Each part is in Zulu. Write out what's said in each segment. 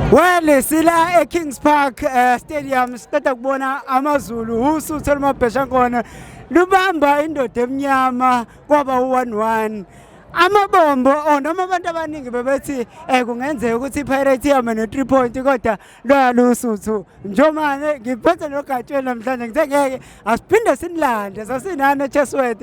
Well sila eKings Park uh, Stadium siqeda kubona amaZulu usuthe lumabhesha khona lubamba indoda emnyama kwaba u11 amabombo or oh, noma abantu abaningi bebethi eh kungenzeka ukuthi iPirates ihamba ne 3 point kodwa loyalusuthu njomane ngiphethe logatsheni namhlanje ngithe ngeke asiphinde sinilande sasinana Chesworth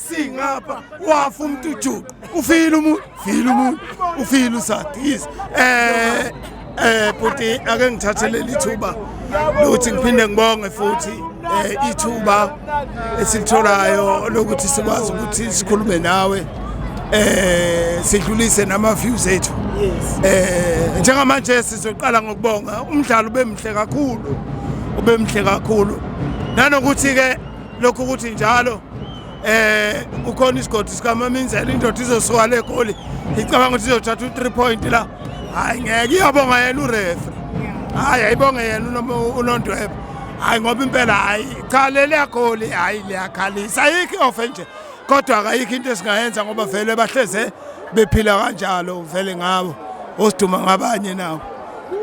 singapha wafa umuntu ujuqu ufile umuntu file umuntu ufile usadi yes eh eh bhuti ake ngithathe leli thuba lokuthi ngiphinde ngibonge futhi eh ithuba esilitholayo lokuthi sikwazi ukuthi sikhulume nawe eh sidlulise nama views ethu eh njengamanje sizoqala ngokubonga umdlalo ubemhle kakhulu ubemhle kakhulu nanokuthi ke lokhu ukuthi njalo eh ukhona isigodi sikamaminzela indoda izosuka le goli icabanga ukuthi izothatha u-3 point la hayi ngeke iyabonga yena urefa hayi ayibonge yena unondweba hayi ngoba impela hayi cha leliya goli hayi liyakhalisa ayikho i-ofe nje kodwa akayikho into esingayenza ngoba vele bahleze bephila kanjalo vele ngabo osiduma ngabanye nabo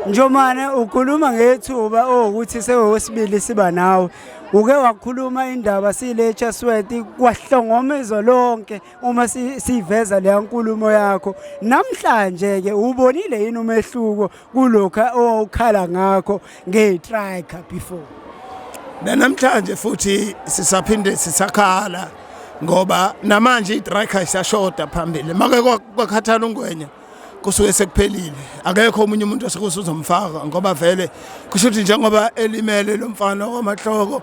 Njomane ukhuluma ngethuba owukuthi sewesibili siba nawe uke wakhuluma indaba sile Chasweti kwahlongoma izwe lonke uma siveza leya nkulumo yakho namhlanje ke ubonile yini umehluko kulokha owukhala ngakho ngetrika before namhlanje futhi sisaphinde sisakhala ngoba namanje itrika isashoda phambili make kwakhathala ungwenya kusuke sekuphelile akekho omunye umuntu osekuze uzomfaka ngoba vele kusho ukuthi njengoba elimele lo mfana wamahloko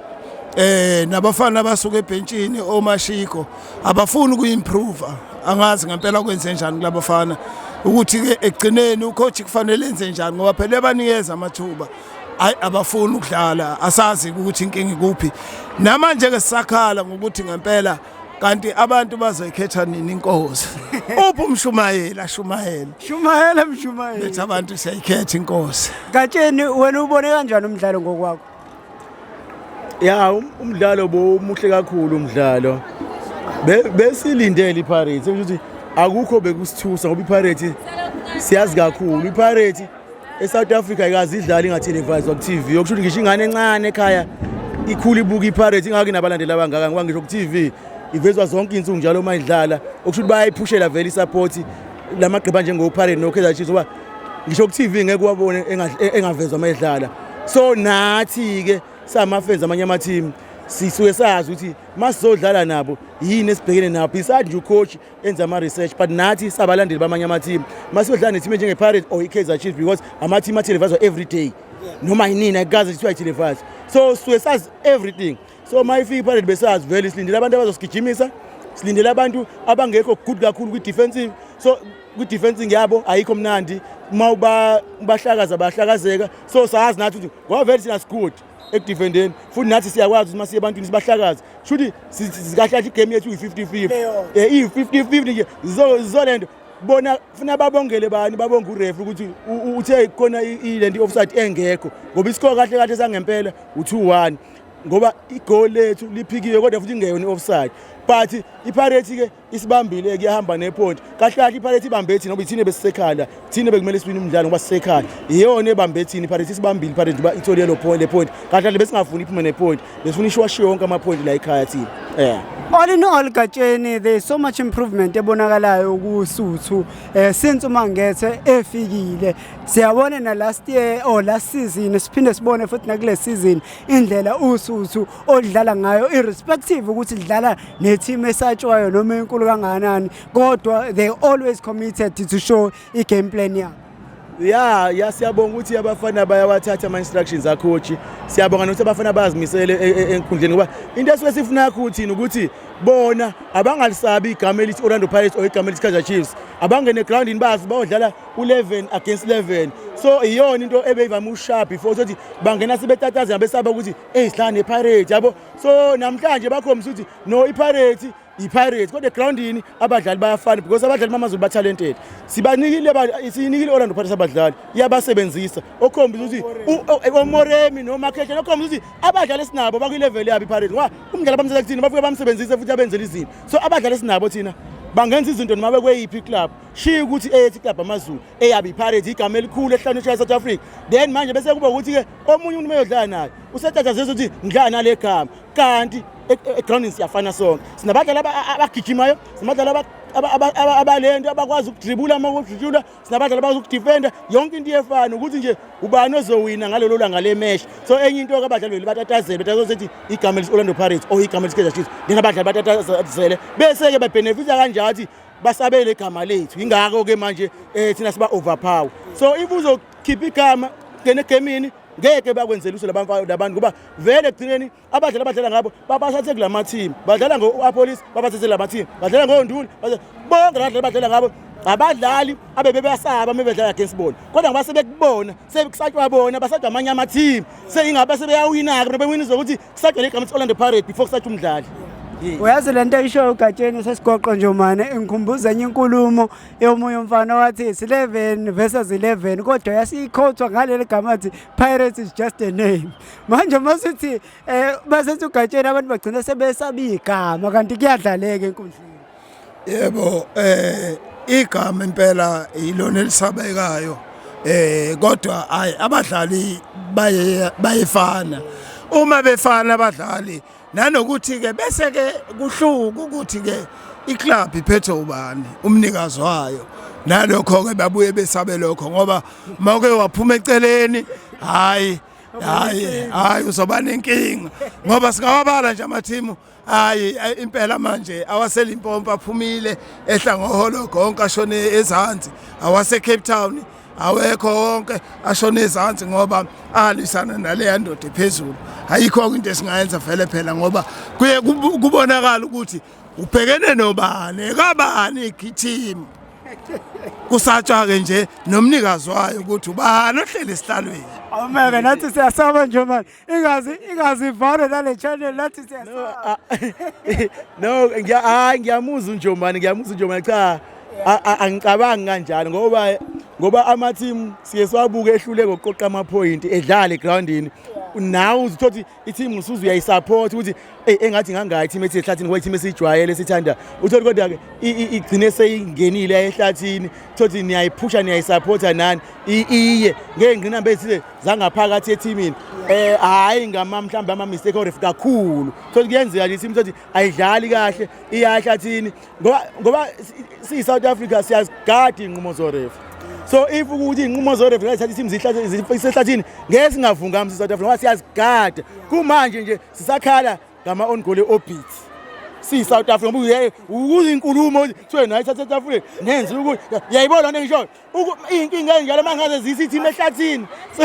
eh nabafana abasuka ebhentshini omashiko abafuni ukuimprove angazi ngempela kwenze njani kulabafana ukuthi ke egcineni ucoach kufanele enze njani ngoba phela ebanikeza amathuba hayi abafuni ukudlala asazi ukuthi inkinga ikuphi namanje ke sisakhala ngokuthi ngempela kanti abantu bazoyikhetha nini inkosi uphi umshumayeli ashumayele shumayela mshumayeli bethi abantu siyayikhetha inkosi gatsheni wena ubone kanjani umdlalo ngokwakho ya um- umdlalo bomuhle kakhulu umdlalo Be- besilindele ipirates ukuthi akukho bekusithusa ngoba ipirates siyazi kakhulu ipirates eSouth Africa ikazi idlali ingateleviswa ku-TV yokusho ukuthi ngisho ingane encane ekhaya ikhula ibuka iPirates ingaki nabalandeli abangaka ngoba ngisho ku-TV ivezwa zonke insuku njalo uma idlala okusho ukuthi bayayiphushela vele i-support la magqiba njengoPirates noKaizer Chiefs ngoba ngisho ku-TV ngeke wabone engavezwa uma idlala so nathi-ke samafenzi amanye amathimu sisuke sazi ukuthi masizodlala nabo yini esibhekene nabo besides nje ucoach enze ama-research but nathi sabalandeli bamanye amathimu masiyodlala nethimu enjenge-pirate or i-kaizer chief because amathimu athelevazwa every day noma yinini ayikaze kuthiwa ithelevazwa so suke sazi everything so uma ifika iphalele besazi vele silindele abantu abazosigijimisa silindele abantu abangekho good kakhulu kwi-defensive so kwi-defensing yabo ayikho mnandi uma ubahlakaza bahlakazeka so sazi nathi ukuthi ngoba vele thina sigood ekudefendeni futhi nathi siyakwazi ukuthi masiye ebantwini sibahlakaze shuthi sikahlahla igame yethu iyi-50 50 eh, iyi-50 50 nje zizolento bona funa babongele bani babonge urefa ukuthi uthe khona ile nto i-offside engekho ngoba isikho kahle kahle sangempela u-two one ngoba igoli lethu liphikiwe kodwa futhi ingeyona i-offside but ipirates-ke isibambile kuyahamba neponti kahle kahle iphalethe ibambe ethini ngoba ithini besisekhala thini bekumele siwine umdlalo ngoba sisekhala iyona ebambe ethini iphalethe isibambile iphalethe uba ithole lo point le point kahle kahle besingafuni iphume ne point besifuna ishwashiwe wonke ama point la ekhaya thina yeah all in all gatsheni there is so much improvement ebonakalayo kusuthu eh since uma ngethe efikile siyabona na last year or last season siphinde sibone futhi nakule season indlela usuthu odlala ngayo irrespective ukuthi dlala neteam esatshwayo noma enkulu kangakanani kodwa they always committed to show i-game plan yabo ya ya siyabonga ukuthi abafana bayawathatha ama-instructions akhochi siyabonga nokuthi abafana bayazimisele e, e, enkundleni ngoba into esuke sifuna yakho uthini ukuthi bona abangalisabi igama elithi orlando pirates or igama elithi kaizer chiefs abangene egroundini bazi bayodlala u-11 against 11 so iyona into ebeyivame ushaya before sokuthi bangena sebetatazela besaba ukuthi eyi sidlala nepirate yabo so namhlanje bakhombisa ukuthi no ipirate yipirate kodwa egroundini abadlali bayafana because abadlali bamazulu batalented sibanikile siyinikile orlando pirates abadlali iyabasebenzisa okhombisa ukuthi eh, omoremi nomakhehla okhombisa ukuthi abadlali esinabo bakwilevel yabo ipirate ngoba umdlali abamsela kuthina bafike bamsebenzise futhi abenzela izinto so abadlali esinabo thina bangenza izinto noma bekweyiphi iclub shiye ukuthi eyethi iclub amazulu eyabe ipirate igama elikhulu ehlanu eshaya south africa then manje bese kuba ukuthi-ke omunye umuntu meyodlala naye usetatazisa ukuthi ngidlala nale gama kanti egroundini siyafana sonke sinabadlali abagijimayo sinabadlali abalento abakwazi ukudribula uma kudribula sinabadlali abakwazi ukudifenda yonke into iyefana ukuthi nje ubani ozowina ngalelo langa le mesh so enye into ke abadlali beli batatazele batatazele ukuthi igama lesi Orlando Pirates or igama lesi Kaizer Chiefs ndingabadlali batatazele bese ke bebenefita kanjalo ukuthi basabele igama lethu ingakho ke manje eh thina siba overpower so if uzo khipha igama ngene gemini ngeke bakwenzela uso labantu labantu ngoba vele ekugcineni abadlali abadlala ngabo babasathe kula mathimu badlala ngo-apolice babasathe la mathimu badlala ngonduli bonke la badlali badlala ngabo abadlali abebebasaba uma bedlala against bona kodwa ngoba sebekubona sekusatshwa bona basatshwa amanye amathimu seyingabe sebeyawina-ke bona bewina ukuthi kusagcwele igama lithi Orlando Pirates before kusathi umdlali uyazi le nto eyishoyo ugatsheni sesigoqo nje mane ingikhumbuza enye inkulumo yomunye umfana owathi it's 11 versus 11 kodwa yasiyikhothwa ngaleli gama athi pirates is just a name manje uma sithi um basethi ugatsheni abantu bagcina sebesabiyigama kanti kuyadlaleka enkundleni yebo eh igama impela yilona elisabekayo eh kodwa hayi abadlali baye bayefana uma befana abadlali nanokuthi ke bese ke kuhluka ukuthi ke iclub iphethe ubani umnikazi wayo nalokho ke babuye besabe lokho ngoba mawuke waphuma eceleni hayi hayi hayi uzoba nenkinga ngoba singawabala nje amathimu hayi impela manje awaselimpompa aphumile ehla ngoholo konke ashone ezansi awasecape town awekho wonke ashona ezansi ngoba alwisana naleya ndoda ephezulu ayikho-ke into esingayenza vele phela ngoba kuye kubonakala ukuthi ubhekene nobani ekabani igithimu kusatshwa-ke nje nomnikazi wayo ukuthi ubani ohleli esihlalweni awumeke nathi siyasaba nje manje ingazi ingazi vale nale channel lathi siyasa no ngiya hayi ngiyamuzwa unjomani ngiyamuzwa unjomani cha angicabangi kanjalo ngoba ngoba ama team siye siwabuke ehlule ngokuqoqa ama point edlale groundini nawe uzithothi i team usuze uyayisupport ukuthi eyi engathi ngangayi team ethi ehlathini ngoba i-team esiyijwayele sithanda uthole kodwa-ke igcine seyingenile yaye ehlathini thothi niyayiphusha niyayisaphotha nani iye ngey'ngqinamba ezithile zangaphakathi ethimini um hhayi ngama mhlawumbe ama-mistake oref kakhulu thothi kuyenzeka nje i-team thothi ayidlali kahle iya ehlathini ngoba siyi-south africa siyazigadi iy'nqumo zoref so if ukuthi inqumo zoref zithatha isimo isehlathini ngeke singavungami sisouth africa ngoba siyazigada kumanje nje sisakhala ngama-on goal e-orbit siyi-south africa ngoba kuyinkulumo kuthiwe nayo ithatha etafuleni nenze ukuthi yayibona lona engishoyo iy'nkinga ezinjalo uma ngaze ziyisa ithimu ehlathini so